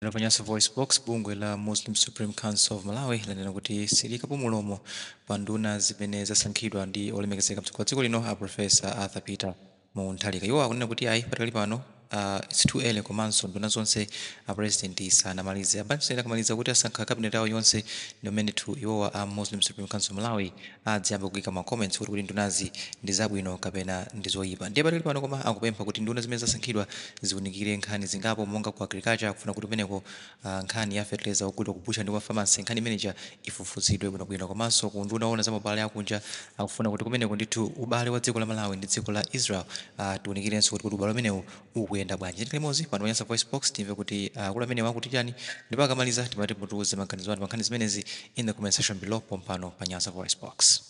Lero pa Nyasa VoiceBox, bungwe la Muslim Supreme Council of Malawi lanena kuti silikapo mulomo pa nduna zimene zasankhidwa ndi olemekezeka mtsogoleri wa dziko lino a Professor Arthur Peter Mutharika. Iwo akunena kuti ayi padakali pano a it's too early komanso nduna zonse a president sanamalize. A bwana akamaliza kuti asankha cabinet yawo yonse ndi pamene tu iwowo a Muslim Supreme Council of Malawi adziyambe kuika ma comments kuti kuti ndunazi ndizabwino kapena ndizoyipa ndiye padakali pano koma akupempha kuti nduna zimene zasankhidwa ziunikire nkhani zingapo monga ku agriculture akufuna kuti kumeneko ah, nkhani ya fertilizer ogulidwa ku butchery ndi kwa pharmacy nkhani imene ija ifufuzidwe bwinobwino komanso ku nduna oona za mabale akunja akufuna kuti kumeneko ndithu ubale wa dziko la malawi ndi dziko la israel ah, tiunikirenso kuti kuti ubale umenewu ukuyenda bwanji tikhale limodzi pano pa Nyasa VoiceBox timve kuti akulu amenewa akuti chani ndipo akamaliza timati mutiuze maganizo anu pa nkhani zimenezi in the comment section below pompano pa Nyasa VoiceBox.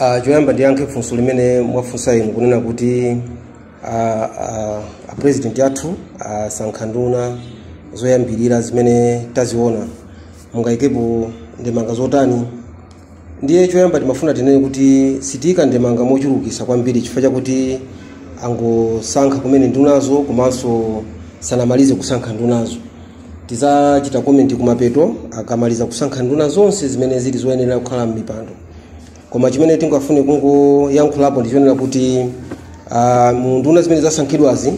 Ah, choyamba ndiyankhe funso limene mwafunsa inu kunena kuti ah, ah, a president athu asankha nduna zoyambirira zimene taziona mungayikepo ndemanga zotani ndiye choyamba timafuna tinene kuti sitiyika ndemanga mochulukisa kwambiri chifukwa chakuti angosankha kumene ndunazo komanso sanamalize kusankha ndunazo tizachita komenti kumapeto akamaliza kusankha nduna zonse zimene zili zoyenera kukhala m'mipando koma chimene tingafune kungoyankhulapo ndi chonena kuti ah, mu nduna zimene zasankhidwazi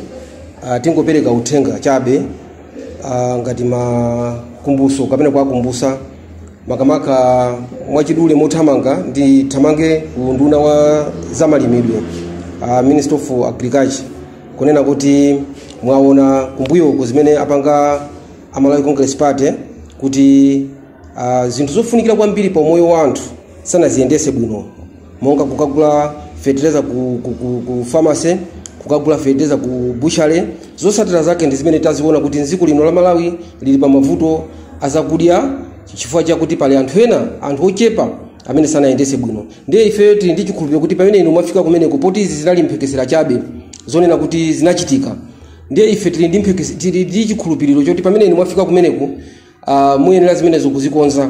ah, tingopereka uthenga chabe ah, ngati makumbuso kapena kuwakumbusa makamaka mwachidule mothamanga ndithamange ku nduna wa zamalimidwe uh, minister of agriculture kunena kuti mwaona kumbuyoko zimene apanga amalawi congress party kuti uh, zinthu zofunikira kwambiri pa umoyo wa anthu sanaziyendese bwino monga kukagula fetereza ku, ku, ku, ku pharmacy kukagula fetereza ku butchery zotsatira zake ndi zimene taziona kuti mdziko lino la malawi lili pa mavuto azakudya chifukwa chakuti pali anthu ena anthu ochepa amene sanayendese bwino ndiye ifeyo tili ndi chikhulupiriro kuti pamene inu mwafika kumeneko poti izi zinali mphekesera chabe zonena kuti zinachitika ndiye ife tili ndi mphekese- tili ndi chikhulupiriro choti pamene inu mwafika kumeneko uh, muyenera zimenezo kuzikonza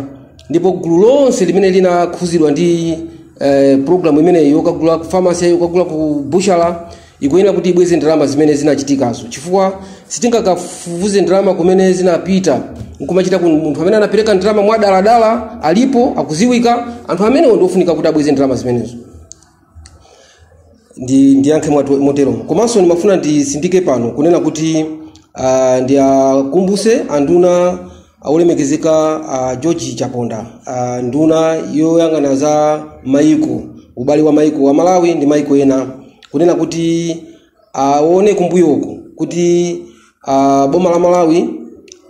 ndipo gulu lonse limene linakhuzidwa ndi eh, programu imeneyi yokagula ku famasi yokagula ku butchery ikuyenera kuti ibweze ndalama zimene zinachitikazo chifukwa sitingakafufuze ndalama kumene zinapita nkumachita ku munthu amene anapereka ndalama mwadaladala alipo akuziwika anthu amenewo ndiofunika kuti abweze ndalama zimenezo ndi ndiyankhe mwatu- motero komanso ndimafuna ndisindike pano kunena kuti uh, ndiakumbuse anduna olemekezeka uh, george chaponda uh, nduna yoyang'ana za maiko ubale wa maiko wa malawi ndi maiko ena kunena kuti aone kumbuyo uku kuti ah, boma la malawi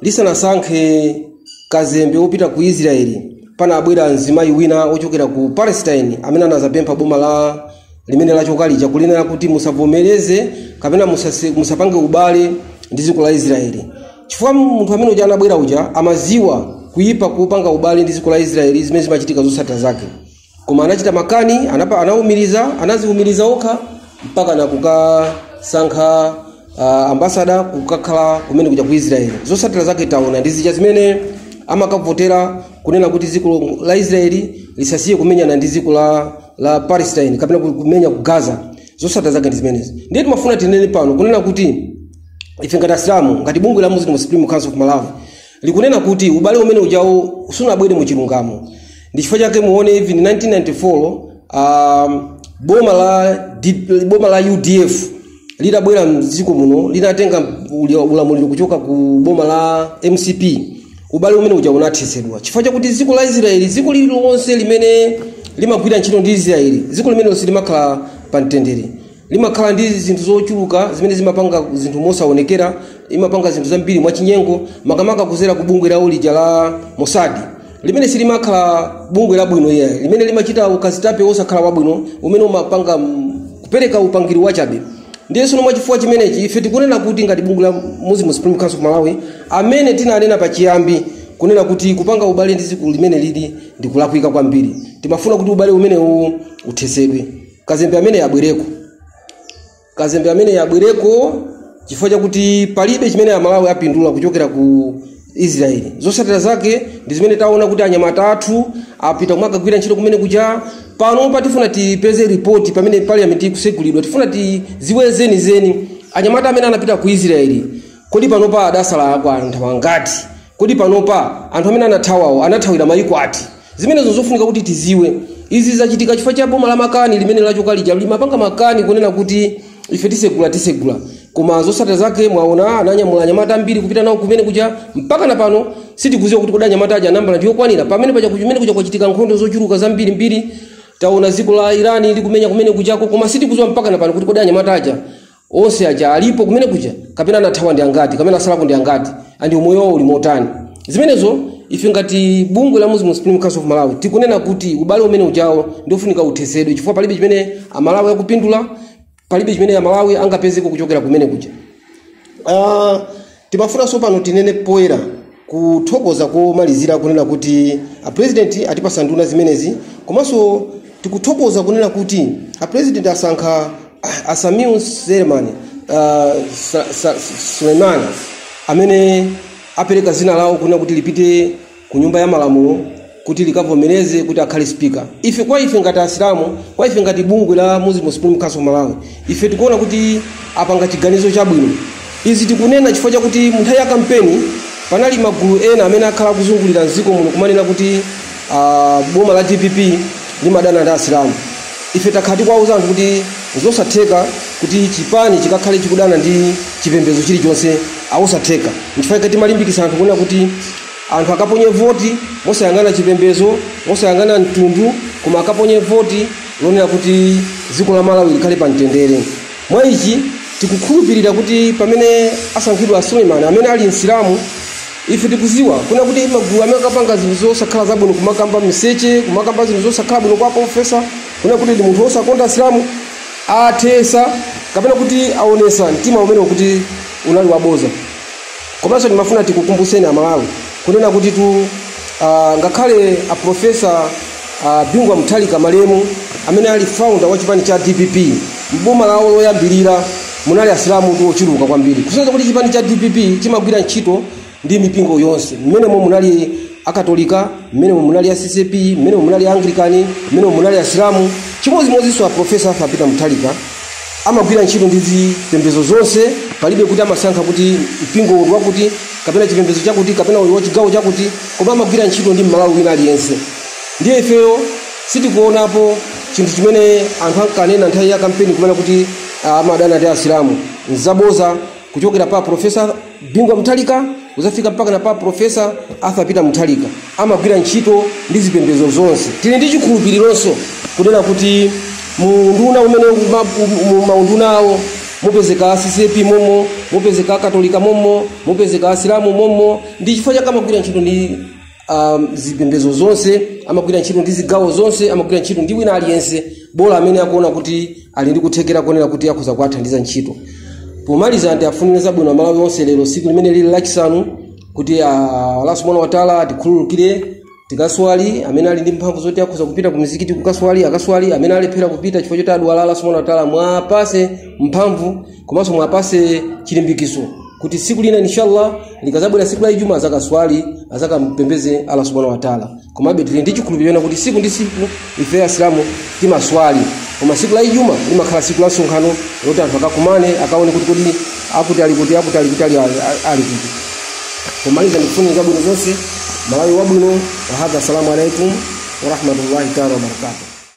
lisanasankhe kazembe wopita ku israeli panabwera mzimayi wina ochokera ku palestine amene anazapempha boma la limene lachoka lija kulinena kuti musavomereze kapena musase- musapange ubale ndi dziko la israeli chifukwa munthu amene uja anabwera uja amaziwa kuyipa kopanga ubale ndi dziko la israeli zimene zimachitika zotsatira zake koma anachita makani anapa, anaumiriza anaziumiriza okha mpaka na kukasankha uh, ambasada kukakhala kumene kuja ku israeli zosatira zake taona ndi zija zimene amakavotera kunena kuti dziko la israeli lisasiye kumenyana ndi dziko la, la palestine kapena ku- kumenya ku gaza zosatira zake ndi zimenezi ndiye timafuna tinene pano kunena kuti ife ngati asilamu ngati bungwe la muslim supreme council of malawi likunena kuti ubale umene ujawo sunabwere mu chilungamo ndi chifukwa chake muone even 1994 um, boma la D- boma la udf litabwera mdziko muno linatenga uli- ulamuliro kuchoka ku boma la mcp ubale umene uja unathetsedwa chifukwa chakuti dziko la israeli dziko lililonse limene limagwira ntchito ndi israeli dziko limenelo silimakhala pa mtendere limakhala ndi zinthu zochuluka zimene limapanga zinthu mosaonekera limapanga zinthu zambiri mwachinyengo makamaka kuzera ku bungwe lawo lija la mosadi limene silimakhala bungwe labwino ayi limene limachita ukazitape wosakhala wabwino umene umapanga mm, kupereka upangiri wachabe ndiye sono mwachifukwa chimenechi ife tikunena kuti ngati bungwe la muslim supreme council of malawi amene tinanena pachiyambi kunena kuti kupanga ubale ndi dziko limeneli ndikulakwika kwambiri timafuna kuti ubale umenewu uthesedwe kazembe ameneyo abwereko chifukwa chakuti palibe chimene amalawi apindula kuchokera ku israeli zotsatira zake ndi zimene taona kuti anyamata athu apita kumakagwira ntchito kumene kuja panopa tifuna tipeze ripoti pamene parliament ikusegulidwa tifuna tiziwe zenizeni anyamata amene anapita ku israeli kodi panopa adasalako anthu angati Kodi panopa anthu amene anathawawo anathawira mayiko ati? Zimenezo zofunika kuti tidziwe. Izi zachitika chifukwa cha boma la makani limene lachoka lija limapanga makani kunena kuti ife tisegula tisegula. Koma zotsatira zake mwaona ananyamula anyamata ambiri kupita nawo kumene kuja mpaka na pano sitikudziwa kuti kodi anyamata aja namba ndi yokwanira. Pamene paja kumene kuja kwachitika nkhondo zochuluka zambiri mbiri taona dziko la Iran likumenya kumene kujako koma sitikudziwa mpaka na pano kuti kodi anyamata aja onse aja alipo kumene kuja kapena anathawa ndi angati kapena asalako ndi angati and umoyo wawo uli motani zimenezo ife ngati bungwe la muslim supreme council of malawi tikunena kuti ubale umene ujawo ndiofunika uthesedwe chifukwa palibe chimene amalawi akupindula palibe chimene amalawi angapezeko kuchokera kumene kuja Ah, Timafuna sopano tinene poyera kuthokoza komalizira kunena kuti a president atipasa nduna zimenezi komanso tikuthokoza kunena kuti a president asankha a Sameer Suleiman uh, Sa- Sa- Suleiman amene apereka zina lawo kunena kuti lipite ku nyumba ya malamulo kuti likavomereze kuti akhale speaker ife kwa ife ngati asilamu kwa ife ngati bungwe la muslim supreme council of malawi ife tikuona kuti apanga chiganizo chabwino izi tikunena chifukwa chakuti munthawi ya kampeni panali magulu ena amene akhala akuzungulira mdziko muno kumanena kuti ah, boma la dpp limadana ndi asilamu ife takhala tikuwauza anthu kuti zosatheka kuti chipani chikakhale chikudana ndi chipembedzo chilichonse nzosatheka nchifukwa timalimbikisa anthu kunena kuti Anthu akaponye voti mosayang'ana chipembezo, mosayang'ana mtundu, koma akaponye voti lonena kuti dziko la Malawi likhale pa mtendere. Mwa ichi tikukhulupirira kuti pamene asankhidwa a Suleiman amene ali Msilamu, ife tikuziwa kunena kuti magulu amene ankapanga zinthu zosakhala zabwino kumakamba miseche, kumakamba zinthu zosakhala bwino kwa profesa, kunena kuti ndi munthu osakonda Asilamu, athesa kapena kuti aonesa mtima umenewo kuti unali waboza. Komanso timafuna tikukumbutseni Amalawi kunena kuti tu ah, ngakhale a Profesa ah, Bingu wa Mutharika malemu amene ali founder wa chipani cha DPP m'boma lawo loyambirira munali asilamu tu ochuluka kwambiri kusonyeza kuti chipani cha DPP chimagwira ntchito ndi mipingo yonse mmenemo munali akatolika mmenemo munali a ccap mmenemo munali a anglican mmenemo munali asilamu chimodzimodzinso a profesa arthur peter mutharika Amagwira ntchito ndi zipembedzo zonse, palibe kuti amasankha kuti mpingo uwu ndi wakuti kapena chipembedzo chakuti kapena uyu wa chigawo chakuti, koma amagwira ntchito ndi Mmalawi wina aliyense. Ndiye ifeyo sitikuonapo chinthu chimene anthu ankanena nthawi ya kampeni kumanena kuti ah, amadana ndi Asilamu. Nzaboza kuchokera pa Profesa bingu wa muthalika kuzafika mpakana pa profesa arthur peter muthalika amagwira ntchito ndi zipembedzo zonse tili ndi chikhulupirironso kunena kuti muunduna umene uma- um- mu maunduna awo mupezeka ccap momo mupezeka akatolika momo mupezeka asilamu momo ndi chifukwa chake amagwira ntchito ndi um, zipembedzo zonse amagwira ntchito ndi zigawo zonse amagwira ntchito ndi wina aliyense bola amene akuona kuti ali ndi kuthekera kuonera kuti akhoza kuwathandiza ntchito pomaliza ndiwafunire zabwino amalawi onse lero siku limene lili lachisanu kuti ah, allah subhanahu wataala atikhululukire tikaswali amene ali ndi mphamvu zoti akhoza kupita ku mizikiti kukaswali akaswali amene alephera kupita chifukwa choti adwala allah subhanahu wataala muwapase mphamvu komanso mwapase chilimbikiso kuti siku lina inshallah likazabwera siku la ijuma azakaswali azakampembeze allah subhanahu wataala komabe tili ndi chikhulupiriro choti kuti siku ndi siku ife asilamu timaswali koma siku la ijuma limakhala siku la msonkhano loti anthu akakumane akaone kuti kodi akuti ali kuti akuti ali kuti ali ali kuti pomaliza ndikufunirani zabwino zonse malawi wabwino wahadha assalamu alaikum warahmatullahi taala wabarakatuh